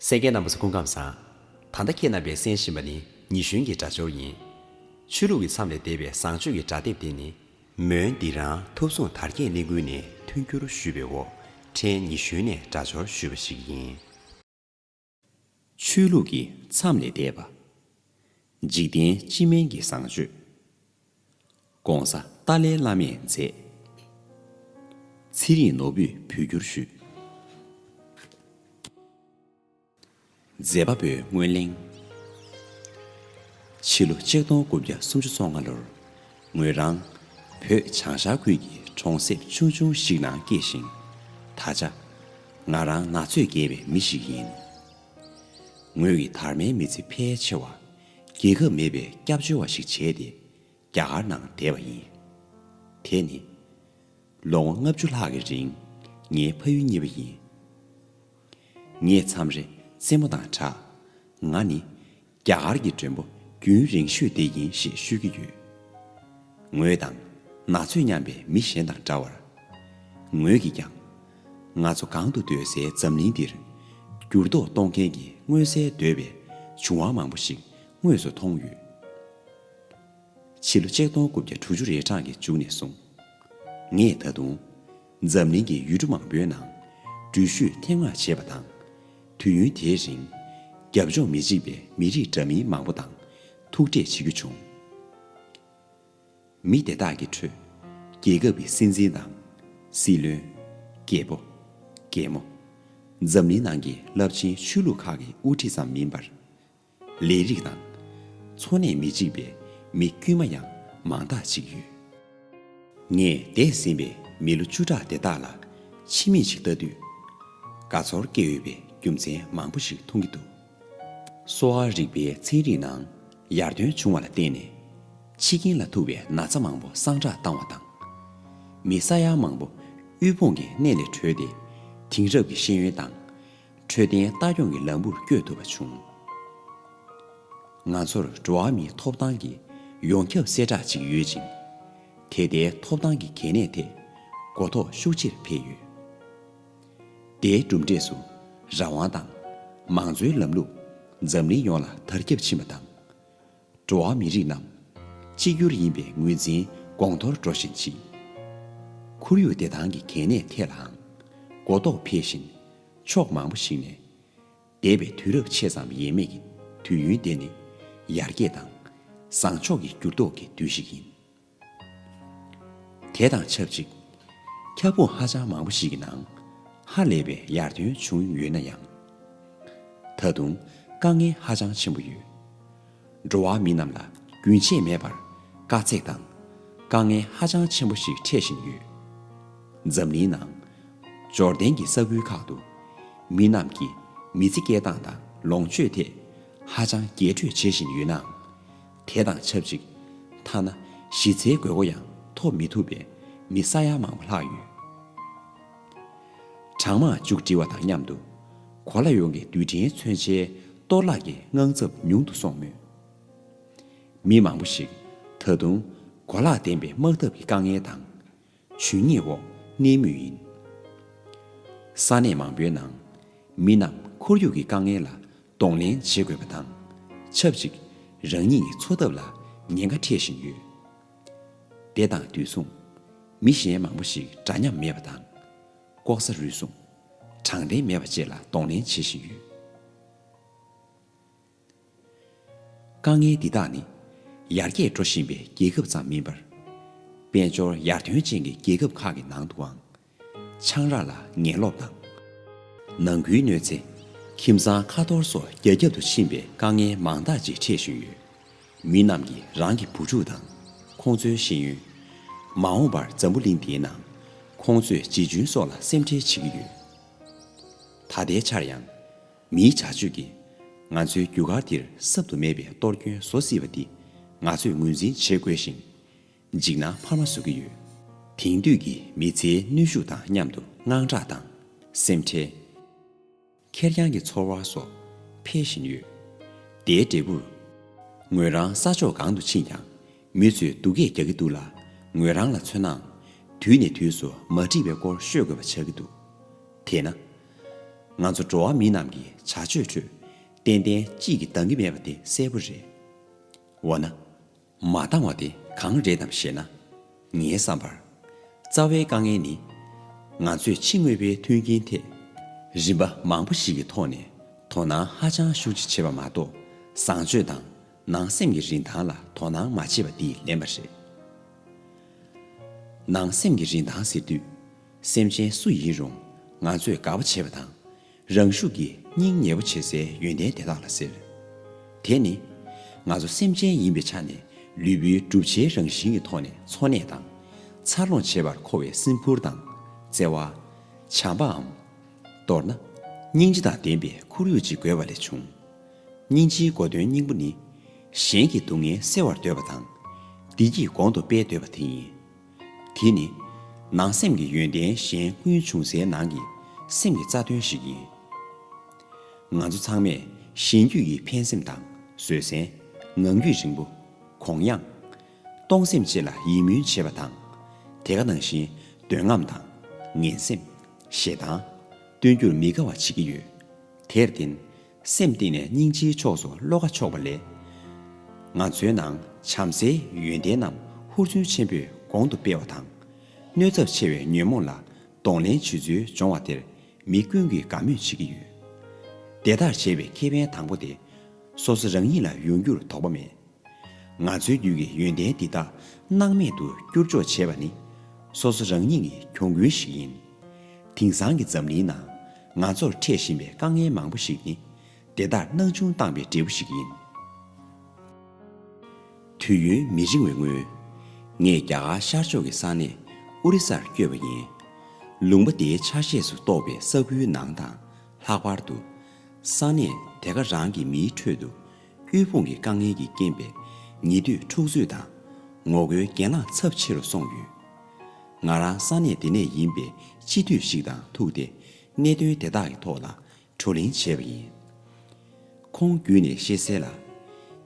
སེང་གེ་རྣམས་སུ་སྐུ་ཁམས་བཟང། ད་ལྟ་ཁྱེད་རྣམ་པས་གསན་བཞིན་པ་ནི་ཉི་གཞོན་གྱི་སྒྲ་སྦྱོར་ཡིན། ཆོས་ལུགས་ཀྱི་མཚམས་ལས་འདས་པའི་བཟང་སྤྱོད་ཀྱི་སྒྲ་དེབ་དེ་ནི། མོན་འདི་རང་ཐུབ་སྲུང་དར་རྒྱས་གླིང་དགོན་ནས་མཐུན་འགྱུར་ཞུས་པའི་འོག་ཕྲན་ཉི་གཞོན་ནས་སྒྲ་སྦྱོར་ཞུས་པ་ཞིག་ཡིན། ཆོས་ལུགས་ཀྱི་མཚམས་ལས་འདས་པ། འཇིག་རྟེན་སྤྱི་སྨན་གྱི་བཟང་སྤྱོད། ྋགོང་ས་ཏཱ་ལའི་བླ་མས་མཛད། ཚེ་རིང་ནོར་བུས་བོད་སྒྱུར་ཞུས། མཛད་པ་པོའི་སྔོན་གླེང། ཕྱི་ལོ་ཆིག་སྟོང་དགུ་བརྒྱ་སུམ་ཅུ་སོ་ལྔ་ལོར། ངོས་རང། བོད་བྱང་ཤར་ཁུལ་གྱི་གྲོང་གསེབ་ཆུང་ཆུང་ཞིག་ནང་སྐྱེས་ཤིང། ད་ཆ། ང་རང་ན་ཚོད་རྒས་པའི་མི་ཞིག་ཡིན། ངོས་ཀྱི་དར་མའི་མི་ཚེ་ཕལ་ཆེ་བ། རྒྱལ་ཁབ་མེད་པའི་སྐྱབས་བཅོལ་བ་ཞིག་བྱས་ཏེ་རྒྱ་གར་ནང་བསྡད་པ་ཡིན། དེ་ནི། ལོ་ངོ་ལྔ་བཅུ་ལྷག་གི་རིང་ངའི་ཕ་ཡུལ་གཉིས་པ་ཡིན། ངས་མཚམས་རེ་རྩེད་མོ་དང་གྲགས། ང་ནི་རྒྱ་གར་གྱི་མགྲོན་པོ་རྒྱུན་རིང་ཤོས་དེ་ཡིན་ཞེས་ཤོད་ཀྱི་ཡོད། ངོས་དང། ན་ཚོད་མཉམ་པའི་མི་གཞན་དང་འདྲ་བར། ངོས་ཀྱིས་ཀྱང། ང་ཚོ་གང་དུ་སྡོད་སའི་འཛམ་གླིང་འདིར། འགྱུར་ལྡོག་གཏོང་མཁན་གྱི་མངོན་གསལ་དོད་པའི་བྱུང་བ་མང་པོ་ཞིག་དངོས་སུ་མཐོང་ཡོད། ཕྱི་ལོ་ཆིག་སྟོང་དགུ་བརྒྱ་དྲུག་ཅུ་རེ་གྲངས་ཀྱི་མཇུག་ནས་བཟུང། ངས་ད་དུང། འཛམ་གླིང་གི་ཡུལ་གྲུ་མང་པོའི་ནང། འགྲུལ་བཞུད་ཐེངས་མང་བྱས་པ་དང། དུས་ཡུན་དེའི་རིང། རྒྱབ་ལྗོངས་མི་གཅིག་པའི་མི་རིགས་འདྲ་མིན་མང་པོ་དང་ཐུག་འཕྲད་བྱེད་རྒྱུ་བྱུང། མི་དེ་དག་གི་ཁྲོད། རྒྱལ་ཁབ་ཀྱི་སྲིད་འཛིན་དང། སྲིད་བློན། རྒད་པོ། རྒན་མོ། འཛམ་གླིང་ནང་གི་རླབས་ཆེན་ཆོས་ལུགས་ཁག་གི་དབུ་ཁྲིད་ཙམ་མིན་པར། ལས་རིགས་དང། འཚོ་གནས་མི་གཅིག་པའི་མི་དཀྱུས་མ་ཡང་མང་དག་ཅིག་ཡོད། ངས་འདས་ཟིན་པའི་མི་ལོ་བཅུ་ཕྲག་དེ་དག་ལ་ཕྱི་མིག་ཅིག་ལྟ་དུས། དགའ་ཚོར་སྐྱེ་འོས་པའི་རྒྱུ་མཚན་མང་པོ་ཞིག་མཐོང་གི་འདུག་གསོ་བ་རིག་པའི་ཚན་རིག་ནང་ཡར་ཐོན་བྱུང་བ་ལ་བརྟེན་ནས། འཆི་རྐྱེན་ལ་ཐུག་པའི་ན་ཚ་མང་པོ་སངས་དྲག་བཏང་བ་དང། མི་ས་ཡ་མང་པོ་དབུལ་ཕོངས་ཀྱི་གནས་ལས་གྲོལ་ཏེ་དེང་རབས་ཀྱི་ཤེས་ཡོན་དང། འཕྲོད་བསྟེན་ལྟ་སྐྱོང་གི་ལམ་བུར་བསྐྱོད་ཐུབ་པ་བྱུང། ང་ཚོར་འགྲོ་བ་མིའི་ཐོབ་ཐང་གི་ཡོངས་ཁྱབ་གསལ་བསྒྲགས་གཅིག་ཡོད་ཅིང། དེ་ལྟའི་ཐོབ་ཐང་གི་གལ་གནད་ཐད་གོ་རྟོགས་ཤུགས་ཆེར་འཕེལ་ཡོད། དེའི་གྲུབ་འབྲས་སུ་རང་དབང་དང། མང་གཙོའི་ལམ་ལུགས་འཛམ་གླིང་ཡོངས་ལ་དར་ཁྱབ་ཕྱིན་པ་དང། འགྲོ་བ་མི་རིགས་རྣམས། གཅིག་གྱུར་ཡིན་པའི་ངོས་འཛིན་དགོངས་མཐོར་འགྲོ་བཞིན་མཆིས། ཁོར་ཡུག་བདེ་ཐང་གི་གལ་གནད་ཐད་ལའང། གོ་རྟོགས་འཕེལ་བཞིན། ཕྱོགས་མང་པོ་ཞིག་ནས། འདས་པའི་དུས་རབས་ཕྱེད་ཙམ་ཡས་མས་ཀྱི་དུས་ཡུན་དེ་ནི། ཡར་རྒྱས་དང། བཟང་ཕྱོགས་ཀྱི་འགྱུར་ལྡོག་གི་དུས་ཤིག་ཡིན། དེ་དང་ཆབས་ཅིག་ཁྱབ་ཁོངས་ཧ་ཅང་མང་པོ་ཞིག་གི་ནང་ཧ་ལས་པའི་ཡར་ཐོན་བྱུང་ཡོད་ན་ཡང། ད་དུང་དཀའ་ངལ་ཧ་ཅང་ཆེན་པོ་ཡོད། འགྲོ་བ་མི་རྣམས་ལ་རྒྱུན་ཆད་མེད་པར་དཀའ་ཚེགས་དང་དཀའ་ངལ་ཧ་ཅང་ཆེན་པོ་ཞིག་འཕྲད་བཞིན་ཡོད། འཛམ་གླིང་ནང་འབྱོར་ལྡན་གྱི་ས་ཁུལ་ཁག་ཏུ་མི་རྣམས་ཀྱི་མི་ཚེ་སྐྱེལ་སྟངས་དང་ལོངས་སྤྱོད་ཐད་ཧ་ཅང་རྒྱས་སྤྲོས་བྱེད་བཞིན་ཡོད་ནའང། དེ་དང་ཆབས་ཅིག་ཐ་ན་གཞི་རྩའི་དགོས་མཁོ་ཡང་ཐོབ་མི་ཐུབ་པའི་མི་ས་ཡ་མང་བོ་ལྷག་ཡོད། གྲང་དམག་མཇུག་སྒྲིལ་བ་དང་མཉམ་དུ་གོ་ལ་ཡོངས་ཀྱི་རྡུལ་ཕྲན་མཚོན་ཆའི་གཏོར་བརླག་གི་དངངས་འཚབ་ཉུང་དུ་སོང་མོད། མི་མང་བོ་ཞིག་ད་དུང་གོ་ལག་ལྡན་པའི་དམག་འཐབ་ཀྱི་དཀའ་ངལ་དང། ཇུས་ཉེས་འོག་གནས་མུས་ཡིན། ས་གནས་མང་པོའི་ནང། མི་རྣམས་ཁོར་ཡུག་གི་དཀའ་ངལ་ལ་གདོང་ལེན་བྱེད་དགོས་པ་དང། ཆབས་ཅིག་རང་ཉིད་ཀྱི་འཚོ་ཐབས་ལ་ཉེན་ཁ་འཕྲད་བཞིན་ཡོད། དེ་དང་དུས་མཚུངས། མི་གཞན་མང་པོ་ཞིག་འདྲ་མཉམ་མེད་པ་དང། ལྐོག་ཟ་རུལ་སུངས། དྲང་བདེན་མེད་པ་བཅས་ལ་གདོང་ལེན་བྱེད་བཞིན་ཡོད། དཀའ་ངལ་འདི་དག་ནི་ཡར་རྒྱས་འགྲོ་བཞིན་པའི་རྒྱལ་ཁབ་ཙམ་མིན་པར། དཔལ་འབྱོར་ཡར་ཐོན་ཅན་གྱི་རྒྱལ་ཁབ་ཁག་གི་ནང་དུའང་ཆང་རག་ལ་ངན་ལོག་དང། ནང་ཁུལ་གནོད་འཚེ། ཁྱིམ་ཚང་ཁ་འཐོར་སོགས་རྒྱ་ཁྱབ་ཏུ་ཕྱིན་པའི་དཀའ་ངལ་མང་དག་ཅིག་འཕྲད་བཞིན་ཡོད། མི་རྣམས་ཀྱིས་རང་གི་བུ་ཕྲུག་དང་ཁོང་ཚོའི་ཤེས་ཡོན། མ་འོངས་པར་འཛམ་བུ་གླིང་འདིའི་ནང་ཁོང་ཚོས་ཇི་བྱུང་སོགས་ལ་སེམས་ཁྲལ་བྱེད་ཀྱི་ཡོད། ད་ལྟའི་ཆར་ཡང། མིའི་བྱ་སྤྱོད་ཀྱིས་ང་ཚོའི་རྒྱུ་སྐར་འདིར་གསབ་ཏུ་མེད་པའི་གཏོར་སྐྱོན་བཟོ་སྲིད་པ་འདི་ང་ཚོས་ངོས་འཛིན་བྱེད་དགོས་ཤིང། འཇིགས་སྣང་འཕར་མ་བཟོ་གི་ཡོད། དེང་དུས་ཀྱི་མི་ཚེའི་ནུས་ཤུགས་དང་མཉམ་དུ་དངངས་སྐྲག་དང། སེམས་ཁྲལ། ཁེར་རྐྱང་གི་ཚོར་བ་སོགས་འཕེལ་བཞིན་ཡོད། དེའི་འབྲས་བུར། ངོས་རང་ས་ཕྱོགས་གང་དུ་ཕྱིན་ཀྱང། མི་ཚོས་སྡུག་སྐད་རྒྱག་གི་འདུག་ལ། ངོས་རང་ལ་མཚོན་ནའང། དུས་ནས་དུས་སུ་མ་འགྲིག་པའི་སྐོར་ཤོད་དགོས་པ་ཆགས་ཀྱི་འདུག་དེས་ན། ང་ཚོ་འགྲོ་བ་མི་རྣམས་ཀྱི་བྱ་སྤྱོད་ཁྲོད། ཏན་ཏན་གཅིག་གིས་འདང་གི་མེད་པ་དེ་གསལ་པོ་རེད། འོ་ན། མ་འདང་བ་དེ་གང་རེད་དམ་ཞེ་ན། ངའི་བསམ་པར། རྩ་བའི་དཀའ་ངལ་ནི། ང་ཚོས་ཕྱི་དངོས་པོའི་མཐུན་རྐྱེན་ཐད། རིམ་པ་མང་པོ་ཞིག་གི་ཐོག་ནས་དོ་སྣང་ཧ་ཅང་ཤུགས་ཆེ་བྱེད་པ་མ་གཏོགས་བཟང་སྤྱོད་དང་ནང་སེམས་ཀྱི་རིན་ཐང་ལ་དོ་སྣང་མ་བྱེད་པ་འདི་ལན་པ་རེད། ནང་སེམས་ཀྱི་རིན་ཐང་ཟེར་དུས། སེམས་ཅན་སུ་ཡིན་རུང་ང་ཚོས་དགའ་བོ་བྱེད་པ་དང། རང་ཤུགས་ཀྱིས་སྙིང་ཉེ་བོ་བྱེད་སའི་ཡོན་ཏན་དེ་དག་ལ་ཟེར། དེ་ནི། ང་ཚོ་སེམས་ཅན་ཡིན་པའི་ཆ་ནས་ལུས་པོའི་གྲུབ་ཆའི་རང་བཞིན་གྱི་ཐོག་ནས་འཚོ་གནས་དང། འཚར་ལོངས་བྱེད་པར་མཁོ་བའི་སྲིན་ཕུར་དང། བརྩེ་བ། བྱམས་པའམ། མདོར་ན། སྙིང་རྗེ་དང་ལྡན་པའི་ཁོར་ཡུག་ཅིག་དགོས་པ་ལས་བྱུང། སྙིང་རྗེའི་སྒོ་དོན་སྙིང་པོ་ནི། གཞན་གྱི་སྡུག་བསྔལ་སེལ་བར་འདོད་པ་དང། བདེ་སྐྱིད་གོང་དུ་སྤེལ་འདོད་པ་དེ་ཡིན། དེ་ནི། ནང་སེམས་ཀྱི་ཡོན་ཏན་གཞན་ཀུན་འབྱུང་སའི་ནང་གི་སེམས་ཀྱི་རྩ་དོན་ཞིག་ཡིན། ང་ཚོ་ཚང་མས་གཞན་རྒྱུད་ཀྱི་ཕན་སེམས་དང་བཟོད་བསྲན། ངང་རྒྱུད་རིང་པོ། གོང་ཡངས། གཏོང་སེམས་བཅས་ལ་ཡིད་སྨོན་བྱེད་པ་དང། དེ་ག་ནང་བཞིན་འདོད་རྔམ་དང། ངན་སེམས། ཞེ་སྡང། སྟོན་རྒྱུར་མི་དགའ་བ་བྱེད་ཀྱི་ཡོད། དེར་བརྟེན། སེམས་གཏིང་ནས་སྙིང་རྗེའི་ཕྱོགས་སུ་བློ་ཁ་ཕྱོགས་པ་ལས། ང་ཚོའི་ནང་བྱམས་བརྩེའི་ཡོན་ཏན་རྣམས་ཧུར་བརྩོན་ཆེན་པོས་གོང་དུ་སྤེལ་བ་དང། གནོད་ཚབས་ཆེ་བའི་ཉོན་མོངས་ལ་གདོང་ལེན་བྱེད་ཚུལ་སྦྱོང་བ་དེར་མི་ཀུན་གྱིས་དགའ་མོས་བྱེད་ཀྱི་ཡོད། དེ་ལྟར་བྱེད་པའི་ཁེ་ཕན་དང་པོ་དེ། སོ་སོ་རང་ཉིད་ལ་ཡོང་རྒྱུར་དོགས་པ་མེད། ང་ཚོའི་རྒྱུད་ཀྱི་ཡོན་ཏན་འདི་དག་སྣང་མེད་དུ་བསྐྱུར་འཇོག་བྱེད་པ་ནི། སོ་སོ་རང་ཉིད་ཀྱི་གྱོང་གུན་ཞིག་ཡིན། དེང་སང་གི་འཛམ་གླིང་ནང་ང་ཚོར་འཕྲད་བཞིན་པའི་དཀའ་ངལ་མང་པོ་ཞིག་ནི། དེ་དག་སྣང་ཆུང་བཏང་པའི་འབྲས་བུ་ཞིག་ཡིན། དུས་ཡུན་མི་རིང་བའི་སྔོན། ངས་རྒྱ་གར་ཤར་ཕྱོགས་ཀྱི་ས་གནས་ཨོ་རི་སར་བསྐྱོད་པ་ཡིན། ལུང་པ་དེའི་ཆ་ཤས་སུ་གཏོགས་པའི་ས་ཁུལ་ནང་དང་ལྷག་པར་དུ། ས་གནས་དེ་ག་རང་གི་མིའི་ཁྲོད་དུ། ཕུལ་བུང་གི་དཀའ་ངལ་གྱིས་རྐྱེན་པས་ཉེ་དུས་འཁྲུག་རྩོད་དང། ངོ་རྒོལ་གྱེན་ལངས་ཚབས་ཆེ་རུ་སོང་ཡོད། ང་རང་ས་གནས་དེ་ནས་ཡིན་པས་སྤྱི་འཐུས་ཤིག་དང་ཐུག་སྟེ་གནད་དོན་དེ་དག་གི་ཐོག་ལ་བགྲོ་གླེང་བྱས་པ་ཡིན། ཁོང་བརྒྱུད་ནས་ཤེས་གསལ་ལ།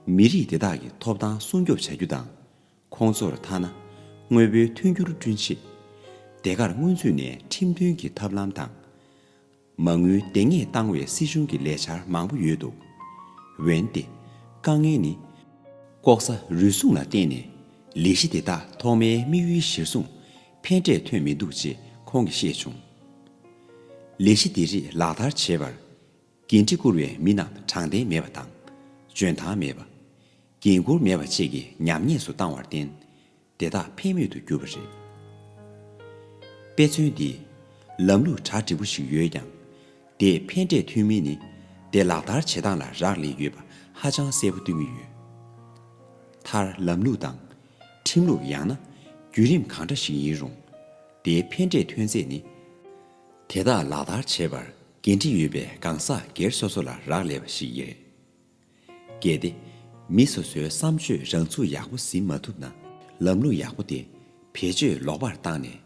མི་རིགས་དེ་དག་གི་ཐོབ་ཐང་སྲུང་སྐྱོབ་བྱ་རྒྱུ་དང། ཁོང་ཚོར་ཐ་ན་དངོས་པོའི་མཐུན་འགྱུར་བསྐྲུན་ཆེད། སྡེ་ཁར་སྔོན་ཚུད་ནས་ཁྲིམས་མཐུན་གྱི་ཐབས་ལམ་དང། མ་དངུལ་བདེན་གཉེར་བཏང་བའི་སྲིད་གཞུང་གི་ལས་འཆར་མང་པོ་ཡོད་འདུག་འོན་ཏེ། དཀའ་ངལ་ནི། ལྐོག་ཟ་རུལ་སུངས་ལ་བརྟེན་ནས་ལས་གཞི་དེ་དག་ཐོག་མའི་དམིགས་ཡུལ་གཞིར་བཟུང་ཕན་འབྲས་ཐོན་མི་འདུག་ཅེས་ཁོང་གིས་བཤད་བྱུང། ལས་གཞི་འདི་རིགས་ལག་བསྟར་བྱེད་པར། འགན་འཁྲི་འཁུར་བའི་མི་རྣམས་དྲང་བདེན་མེད་པ་དང། འཇོན་ཐང་མེད་པ། འགན་ཁུར་མེད་པ་བཅས་ཀྱི་ཉམས་ཉེས་སུ་བཏང་བར་བརྟེན། དེ་དག་ཕན་མེད་དུ་གྱུར་པ་རེད། དཔེ་མཚོན་འདི། ལམ་ལུགས་གྲ་འགྲིག་པོ་ཞིག་ཡོད་ཀྱང། དེས་ཕན་འབྲས་ཐོན་མིན་ནི་དེ་ལག་བསྟར་བྱེད་སྟངས་ལ་རག་ལས་ཡོད་པ་ཧ་ཅང་གསལ་པོ་སྟོན་གྱི་ཡོད། མཐར་ལམ་ལུགས་དང། ཁྲིམས་ལུགས་ཡང་ན། བརྒྱུད་རིམ་གང་འདྲ་ཞིག་ཡིན་རུང། དེའི་ཕན་འབྲས་ཐོན་ཚད་ནི། དེ་དག་ལག་བསྟར་བྱེད་པར་འགན་འཁྲི་ཡོད་པའི་གང་ཟག་སྒེར་སོ་སོ་ལ་རག་ལས་པ་ཞིག་ཡིན། གལ་ཏེ། མི་སོ་སོའི་བསམ་སྤྱོད་རང་ཚུགས་ཡག་པོ་ཟིན་མ་ཐུབ་ན། ལམ་ལུགས་ཡག་པོ་དེ་བེད་སྤྱོད་ལོག་པར་བཏང་ནས།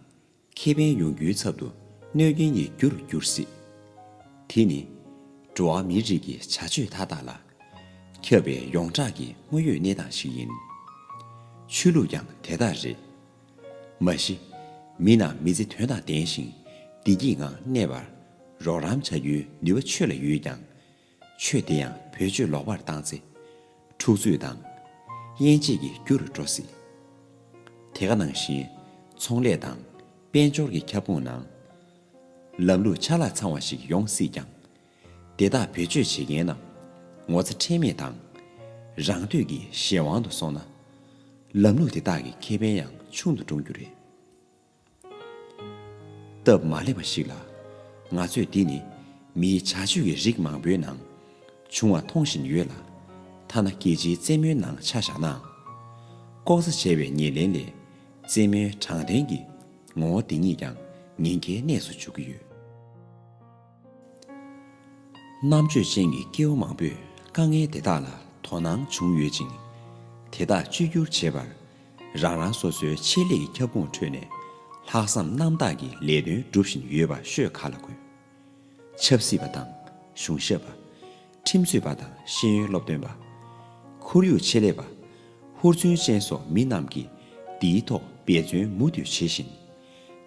ཁེ་ཕན་ཡོང་རྒྱུའི་ཚབ་ཏུ་གནོད་སྐྱོན་གཉིས་རྒྱུ་རུ་འགྱུར་སྲིད། དེ་ནི། འགྲོ་བ་མིའི་རིགས་ཀྱི་བྱ་སྤྱོད་མཐའ་དག་ལ། ཁྱབ་པའི་ཡོངས་གྲགས་ཀྱི་དངོས་ཡོད་གནས་སྟངས་ཤིག་ཡིན། ཆོས་ལུགས་ཀྱང་དེ་ལྟར་རེད། མ་གཞི། མི་རྣམས་མི་ཚེ་དོན་དང་ལྡན་ཞིང་བདེ་སྐྱིད་ངང་གནས་པར་རོགས་རམ་བྱ་རྒྱུའི་ནུས་པ་ཆོས་ལ་ཡོད་ཀྱང། ཆོས་དེ་ཡང་བེད་སྤྱོད་ལོག་པར་བཏང་ཚེ། འཁྲུག་རྩོད་དང། དབྱེན་འབྱེད་ཀྱི་རྒྱུ་རུ་འགྲོ་སྲིད། དེ་ག་ནང་བཞིན། ཚོང་ལས་དང་དཔལ་འབྱོར་གྱི་ཁྱབ་ཁོངས་ནང། ལམ་ལུགས་ཆ་ལག་ཚང་བ་ཞིག་ཡོང་སྲིད་ཀྱང། དེ་དག་བེད་སྤྱོད་བྱེད་མཁན་རྣམས་ངོ་ཚ་ཁྲེལ་མེད་དང། རང་འདོད་ཀྱིས་གཞན་དབང་དུ་སོང་ན། ལམ་ལུགས་དེ་དག་གི་ཁེ་ཕན་ཡང་ཆུང་དུ་འགྲོ་རྒྱུ་རེད། སྟབས་མ་ལེགས་པ་ཞིག་ལ། ང་ཚོས་འདི་ནི་མིའི་བྱ་སྤྱོད་ཀྱི་རིགས་མང་པོའི་ནང་བྱུང་བ་མཐོང་བཞིན་ཡོད་ལ། ཐ་ན་རྒྱལ་སྤྱིའི་རྩེད་མོའི་ནང་ཆ་བཞག་ནའང། ལྐོག་ཟ་བྱས་པའི་ཉེར་ལེན་ལས་རྩེད་མོའི་དྲང་བདེན་གྱི་ངོ་བོ་འདི་ཉིད་ཀྱང་ཉེན་ཁའི་གནས་སུ་འཇུག་གི་ཡོད། རྣམ་དཔྱོད་ཅན་གྱི་སྐྱེ་བོ་མང་པོས་དཀའ་ངལ་དེ་དག་ལ་དོ་སྣང་བྱུང་ཡོད་ཅིང། དེ་དག་བཅོས་སྒྱུར་བྱེད་པར་རང་རང་སོ་སོའི་ཆེད་ལས་ཀྱི་ཁྱབ་ཁོངས་ཁྲོད་ནས་ལྷག་བསམ་རྣམ་དག་གིས་ལས་དོན་སྒྲུབ་བཞིན་ཡོད་པ་ཤོད་ག་ལ་དགོས། ཆབ་སྲིད་པ་དང་གཞུང་ཞབས་པ། ཁྲིམས་རྩོད་པ་དང་ཤེས་ཡོན་སློབ་སྟོན་པ། ཁོར་ཡུག་ཆེད་ལས་པ། ཧུར་བརྩོན་ཅན་སོགས་མི་རྣམས་ཀྱིས་འདིའི་ཐོག་འབད་བརྩོན་མུ་མཐུད་བྱེད་བཞིན།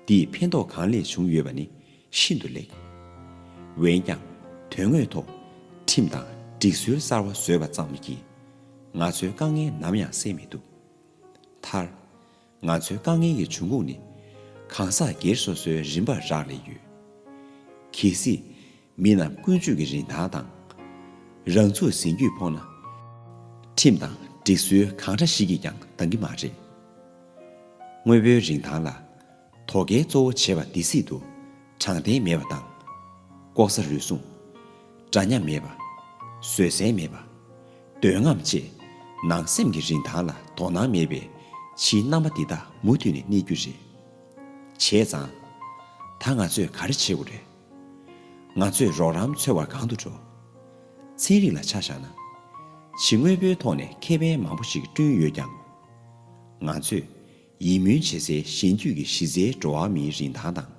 འདིས་ཕན་ཐོགས་གང་ལེགས་བྱུང་ཡོད་པ་ནི་ཤིན་ཏུ་ལེགས། འོན་ཀྱང་དོན་དངོས་ཐོག་ཁྲིམས་དང་སྒྲིག་སྲོལ་གསར་བ་བཟོས་པ་ཙམ་གྱིས་ང་ཚོའི་དཀའ་ངལ་ནམ་ཡང་སེལ་མི་ཐུབ། མཐར། ང་ཚོའི་དཀའ་ངལ་གྱི་འབྱུང་ཁུངས་ནི་གང་ཟག་སྒེར་སོ་སོའི་རིམ་པར་རག་ལས་ཡོད། གལ་སྲིད་མི་རྣམས་ཀུན་སྤྱོད་ཀྱི་རིན་ཐང་དང། རང་ཚུགས་ཟིན་རྒྱུས་ཕོངས་ན། ཁྲིམས་དང་སྒྲིག་སྲོལ་གང་འདྲ་ཞིག་གིས་ཀྱང་འདང་གི་མ་རེད། དངོས་པོའི་རིན་ཐང་ལ། དོ་གལ་གཙོ་བོ་བྱེད་པ་འདི་སྲིད་དུ། དྲང་བདེན་མེད་པ་དང། ལྐོག་ཟ་རུལ་སུངས། འདྲ་མཉམ་མེད་པ། བཟོད་བསྲན་མེད་པ། འདོད་རྔམ་བཅས། ནང་སེམས་ཀྱི་རིན་ཐང་ལ་དོ་སྣང་མེད་པའི། ཕྱིའི་རྣམ་པ་འདི་དག་མུ་མཐུད་ནས་གནས་རྒྱུ་རེད། བྱས་ཙང། ད་ང་ཚོས་ག་རེ་བྱེད་དགོས་རེད། ང་ཚོས་རོགས་རམ་འཚོལ་བར་གང་དུ་འགྲོ། ཚན་རིག་ལ་ཆ་བཞག་ན། ཕྱི་དངོས་པོའི་ཐོག་ནས་ཁེ་ཕན་མང་པོ་ཞིག་བསྐྲུན་ཡོད་ཀྱང། ང་ཚོས། ཡིད་སྨོན་བྱེད་སའི་གཞན་རྒྱུད་ཀྱི་གཞི་རྩའི་འགྲོ་བ་མིའི་རིན་ཐང་དང།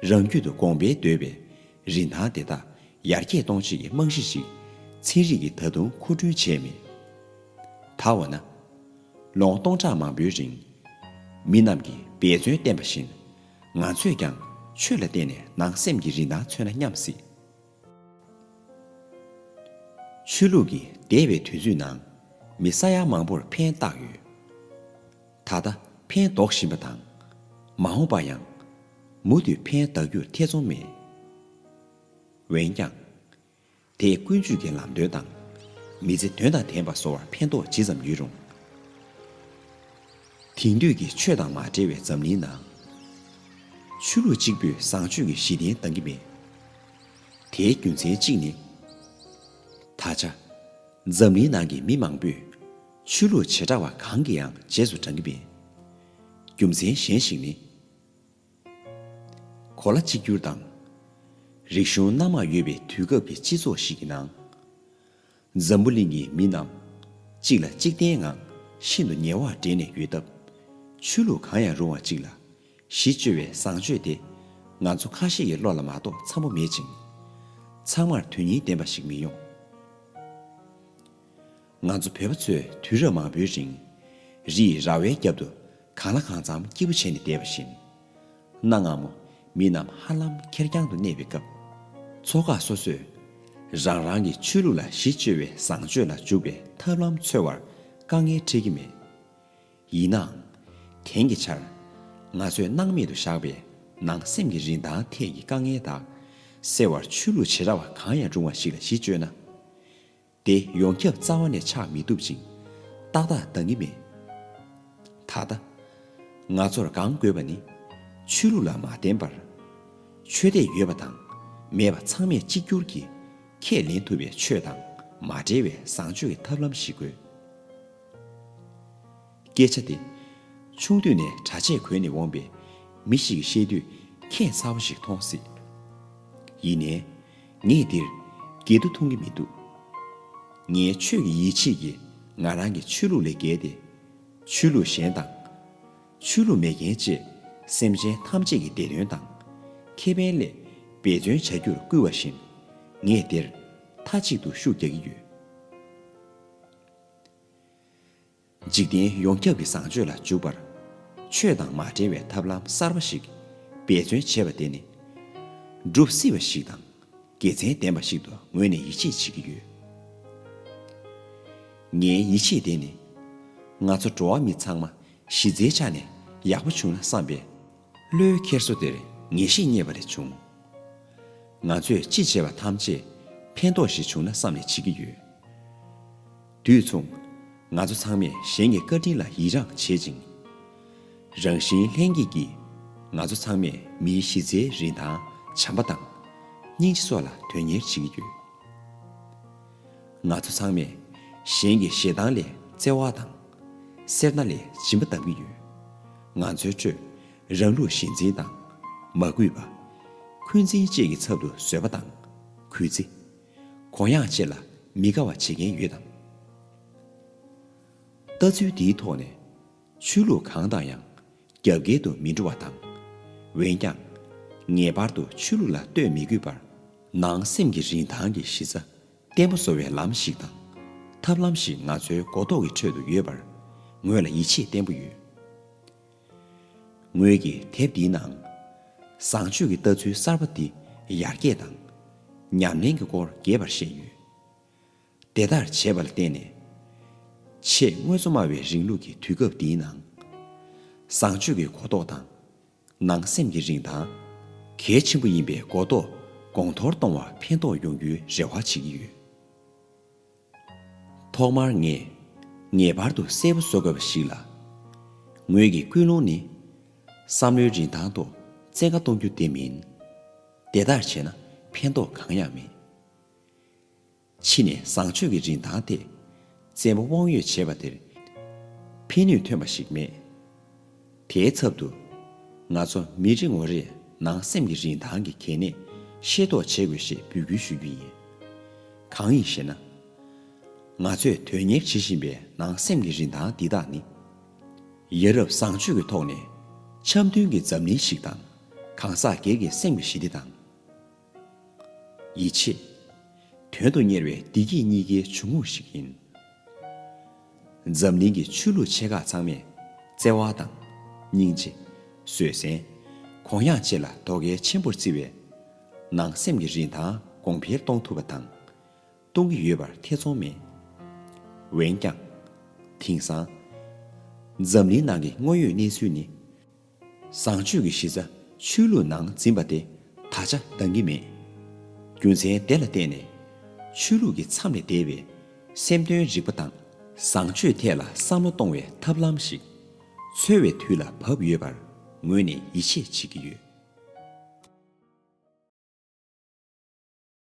རང་རྒྱུད་དུ་དགོངས་པའི་འདོད་པའི་རིན་ཐང་དེ་དག་ཡར་རྒྱས་གཏོང་བྱེད་ཀྱི་རྨང་གཞི་ཞིག་ཚན་རིག་གིས་ད་དུང་མཁོ་སྤྲོད་བྱས་མེད། ད་འོ་ན། ལོ་ངོ་སྟོང་ཕྲག་མང་པོའི་རིང། མི་རྣམས་ཀྱིས་འབད་བརྩོན་བསྟེན་པ་བཞིན། ང་ཚོས་ཀྱང་ཆོས་ལ་བརྟེན་ནས་ནང་སེམས་ཀྱི་རིན་ཐང་མཚོན་ན་སྙམ་སྲིད། ཆོས་ལུགས་ཀྱི་འདས་པའི་དུས་ཚོད་ནང། མི་ས་ཡ་མང་པོར་ཕན་བཏགས་ཡོད། ད་ལྟ་ཕན་འདོགས་བཞིན་པ་དང། མ་འོངས་པར་ཡང་མུ་མཐུད་ཕན་གདགས་རྒྱུར་ཐེ་ཚོམ་མེད། འོན་ཀྱང། དེས་ཀུན་སྤྱོད་ཀྱི་ལམ་སྟོན་དང། མི་ཚེ་དོན་དང་ལྡན་པ་བཟོ་བར་ཕན་ཐོགས་ཇི་ཙམ་ཡོད་རུང། དེང་དུས་ཀྱི་ཆོས་དང་མ་འབྲེལ་བའི་འཛམ་གླིང་ནང། ཆོས་ལུགས་གཅིག་པུས་བཟང་སྤྱོད་ཀྱི་གཞི་རྟེན་འདང་གི་མེད། དེའི་རྒྱུ་མཚན་གཅིག་ནི། ད་ཆ། འཛམ་གླིང་ནང་གི་མི་མང་པོས། ཆོས་ལུགས་བྱེ་བྲག་བ་གང་གིའང་རྗེས་སུ་འབྲང་གི་མེད། རྒྱུ་མཚན་གཞན་ཞིག་ནི། གོ་ལ་གཅིག་གྱུར་དང། རིག་གཞུང་སྣ་མང་ཡོད་པའི་དུས་སྐབས་ཀྱི་སྤྱི་ཚོགས་ཤིག་གི་ནང། འཛམ་བུ་གླིང་གི་མི་རྣམས། གཅིག་ལ་གཅིག་བརྟེན་ངང་ཤིན་ཏུ་ཉེ་བར་འབྲེལ་ནས་ཡོད་སྟབས། ཆོས་ལུགས་གང་ཡང་རུང་བ་གཅིག་ལ་གཞི་བཅོལ་བའི་བཟང་སྤྱོད་དེ། ང་ཚོ་ཁ་ཤས་ཀྱི་བློ་ལ་མ་གཏོགས་འཚམ་པོ་མེད་ཅིང། ཚང་མར་དོན་སྙིང་ལྡན་པ་ཞིག་མི་ཡོང། ང་ཚོ་བོད་པ་ཚོས་དུས་རབས་མང་པོའི་རིང། རིས་ར་བའི་རྒྱབ་ཏུ་གང་ལ་གང་འཚམ་སྐྱིད་པོ་བྱས་ནས་བསྡད་པ་བཞིན། གནའ་སྔ་མོ་མི་རྣམས་ཧ་ལམ་ཁེར་རྐྱང་དུ་གནས་པའི་སྐབས། ཚོ་ཁག་སོ་སོས་རང་རང་གི་ཆོས་ལུགས་ལ་གཞི་བཅོལ་བའི་བཟང་སྤྱོད་ལ་འཇུག་པའི་ཐབས་ལམ་འཚོལ་བར་དཀའ་ངལ་འཕྲད་ཀྱི་མེད། ཡིན་ནའང། དེང་གི་ཆར། ང་ཚོས་སྣང་མེད་དུ་བཞག་པའི་ནང་སེམས་ཀྱི་རིན་ཐང་ཐད་ཀྱི་དཀའ་ངལ་དག་སེལ་བར་ཆོས་ལུགས་བྱེ་བྲག་པ་གང་ཡང་རུང་བ་ཞིག་ལ་གཞི་བཅོལ་ན། དེ་ཡོངས་ཁྱབ་རྩ་བ་ནས་ཆགས་མི་ཐུབ་ཅིང། ཏག་ཏག་འདང་གི་མེད། ད་ལྟ། ང་ཚོར་གང་དགོས་པ་ནི། ཆོས་ལུགས་ལ་མ་བརྟེན་པར། ཆོས་དད་ཡོད་པ་དང་མེད་པ་ཚང་མས་གཅིག་གྱུར་གྱིས་ཁས་ལེན་ཐུབ་པའི་ཆོས་དང་མ་འབྲེལ་བའི་བཟང་སྤྱོད་ཀྱི་ཐབས་ལམ་ཞིག་དགོས། སྐད་ཆ་དེ། ཆུང་དུས་ནས་གྲྭ་ཆས་གོན་ནས་འོངས་པའི་མི་ཞིག་གིས་བཤད་དུས་ཁྱད་མཚར་བོ་ཞིག་མཐོང་སྲིད། ཡིན་ནའི། ངས་འདིར་འགལ་འདུ་མཐོང་གི་མི་འདུག། ངའི་ཆོས་ཀྱི་ཡིད་ཆེས་ཀྱིས་ང་རང་གི་ཆོས་ལུགས་ལས་བརྒལ་ཏེ། ཆོས་ལུགས་གཞན་དང། ཆོས་ལུགས་མེད་མཁན་བཅས་སེམས་ཅན་ཐམས་ཅད་ཀྱི་བདེ་དོན་དང། ཁེ་ཕན་སླད་འབད་བརྩོན་བྱ་རྒྱུར་བསྐུལ་བ་བཞིན། ངས་འདིར་མཐའ་གཅིག་ཏུ་ཤུགས་རྒྱག་གི་ཡོད། འཇིག་རྟེན་ཡོངས་ཁྱབ་ཀྱི་བཟང་སྤྱོད་ལ་འཇུག་པར། ཆོས་དང་མ་འབྲེལ་བའི་ཐབས་ལམ་གསར་བ་ཞིག་འབད་བརྩོན་བྱེད་པ་དེ་ནི། བསྒྲུབ་སྲིད་པ་ཞིག་དང་དགེ་མཚན་ལྡན་པ་ཞིག་ཏུ་ངོས་ནས་ཡིད་ཆེས་བྱེད་ཀྱི་ཡོད། ངའི་ཡིད་ཆེས་དེ་ནི། ང་ཚོ་འགྲོ་བ་མི་ཚང་མ་གཞི་རྩའི་ཆ་ནས་ཡག་པོ་བྱུང་ན་བསམ་པས། བློའི་འཁྱེར་སོ་དེར་ངེས་ཤེས་རྙེད་པ་ལས་བྱུང། ང་ཚོས་ཅི་བྱས་པ་ཐམས་ཅད་ཕན་ཐོགས་ཤིག་བྱུང་ན་བསམ་ནས་བྱེད་ཀྱི་ཡོད། དུས་མཚུངས། ང་ཚོ་ཚང་མས་གཞན་གྱི་བཀའ་དྲིན་ལ་ཡིད་རངས་བྱེད་ཅིང། རང་བཞིན་ལྷན་སྐྱེས་ཀྱིས། ང་ཚོ་ཚང་མས་མིའི་གཞི་རྩའི་རིན་ཐང་བྱམས་པ་དང། སྙིང་རྗེ་སོགས་ལ་དོན་གཉེར་བྱེད་ཀྱི་ཡོད། ང་ཚོ་ཚང་མས་གཞན་གྱི་ཞེ་སྡང་ལས་བརྩེ་བ་དང། སེར་སྣ་ལས་སྦྱིན་པ་བལྟ་གི་ཡོད། ང་ཚོའི་ཁྲོད་རང་ལུགས་གཞི་འཛིན་དང། མ་གུས་པ། འཁོན་འཛིན་བཅས་ཀྱི་ཚབ་ཏུ་བཟོད་པ་དང་གུས་བརྩི། གོ་ཡང་བཅད་ལ་མི་དགའ་བ་བྱེད་མཁན་ཡོད་དམ། ལྟ་ཚུལ་འདིའི་ཐོག་ནས། ཆོས་ལུགས་གང་དང་ཡང་རྒྱབ་འགལ་དུ་མི་འགྲོ་བ་དང། འོན་ཀྱང། ངེས་པར་དུ་ཆོས་ལུགས་ལ་ལྟོས་མི་དགོས་པར། ནང་སེམས་ཀྱི་རིན་ཐང་གི་གཞི་རྩ་བརྟན་པོ་བཟོ་བའི་ལམ་ཞིག་དང། ཐབས་ལམ་ཞིག་ང་ཚོའི་གོ་རྟོགས་ཀྱི་ཁྲོད་དུ་ཡོད་པར་ངོས་ལ་ཡིད་ཆེས་བརྟན་པོ་ཡོད། ངོས་ཀྱི་དེབ་འདིའི་ནང། བཟང་སྤྱོད་ཀྱི་ལྟ་ཚུལ་གསར་པ་འདི་ཡར་རྒྱས་དང། ཉམས་ལེན་གྱི་སྐོར་རྒྱས་པར་བཤད་ཡོད། དེ་ལྟར་བྱས་པ་ལ་བརྟེན་ནས། ཆེས་དངོས་གཙོ་སྨྲ་བའི་རིང་ལུགས་ཀྱི་དུས་སྐབས་འདིའི་ནང། བཟང་སྤྱོད་ཀྱི་གོ་རྟོགས་དང། ནང་སེམས་ཀྱི་རིན་ཐང། གལ་ཆེན་པོ་ཡིན་པའི་གོ་རྟོགས་གོང་མཐོར་གཏོང་བར་ཕན་ཐོགས་ཡོང་རྒྱུའི་རེ་བ་བྱེད་ཀྱི་ཡོད། ཐོག་མར་ངས་ངེས་པར་དུ་གསལ་པོ་བཟོ་དགོས་པ་ཞིག་ལ། ངོས་ཀྱི་ཀུན་སློང་ནི། བསམ་བློའི་རིན་ཐང་ཐོག་བཙན་བཀའ་གཏོང་རྒྱུ་དེ་མིན། དེ་ལྟར་བྱས་ན་ཕན་ཐོགས་གང་ཡང་མེད། ཕྱི་ནས་བཟང་སྤྱོད་ཀྱི་རིན་ཐང་ཐད་བཙན་པོ་དབང་ཡོད་བྱས་པ་དེར་ཕན་ནུས་ཐོན་པ་ཞིག་མེད། དེའི་ཚབ་ཏུ། ང་ཚོ་མི་རེ་ངོ་རེས་ནང་སེམས་ཀྱི་རིན་ཐང་གི་གལ་གནད་ཤེས་རྟོགས་བྱེད་དགོས་ཞེས་འབོད་སྐུལ་ཞུ་རྒྱུ་ཡིན། གང་ཡིན་ཞེ་ན། ང་ཚོས་དོན་གཉེར་བྱེད་བཞིན་པའི་ནང་སེམས་ཀྱི་རིན་ཐང་འདི་དག་ནི། ཡ་རབས་བཟང་སྤྱོད་ཀྱི་ཐོག་ནས་འཆམ་མཐུན་གྱི་འཛམ་གླིང་ཞིག་དང་གང་ཟག་སྒེར་གྱི་སེམས་ཀྱི་ཞི་བདེ་དང། ཡིད་ཆེས། དོན་དུ་གཉེར་བའི་བདེ་སྐྱིད་གཉིས་ཀའི་འབྱུང་ཁུངས་ཤིག་ཡིན། འཛམ་གླིང་གི་ཆོས་ལུགས་ཆེ་ཁག་ཚང་མས་བརྩེ་བ་དང། སྙིང་རྗེ། བཟོད་བསྲན། གུ་ཡངས་བཅས་ལ་དོ་གལ་ཆེན་པོར་བརྩི་བས། ནང་སེམས་ཀྱི་རིན་ཐང་གོང་འཕེལ་གཏོང་ཐུབ་པ་དང། གཏོང་གི་ཡོད་པར་ཐེ་ཚོམ་མེད། འོན་ཀྱང། དེང་སང། འཛམ་གླིང་ནང་གི་དངོས་ཡོད་གནས་ཚུལ་ནི། བཟང་སྤྱོད་ཀྱི་གཞི་རྩ་ཆོས་ལུགས་ནང་འཛིན་པ་དེ་ད་ཆ་འདང་གི་མེད། རྒྱུ་མཚན་དེ་ལ་བརྟེན་ནས། ཆོས་ལུགས་ཀྱི་མཚམས་ལས་འདས་པའི་སེམས་དོན་རིག་པ་དང་བཟང་སྤྱོད་ཐད་ལ་བསམ་བློ་གཏོང་བའི་ཐབས་ལམ་ཞིག་འཚོལ་བའི་དུས་ལ་བབས་ཡོད་པར་ངོས་ནས་ཡིད་ཆེས་བྱེད་ཀྱི་ཡོད།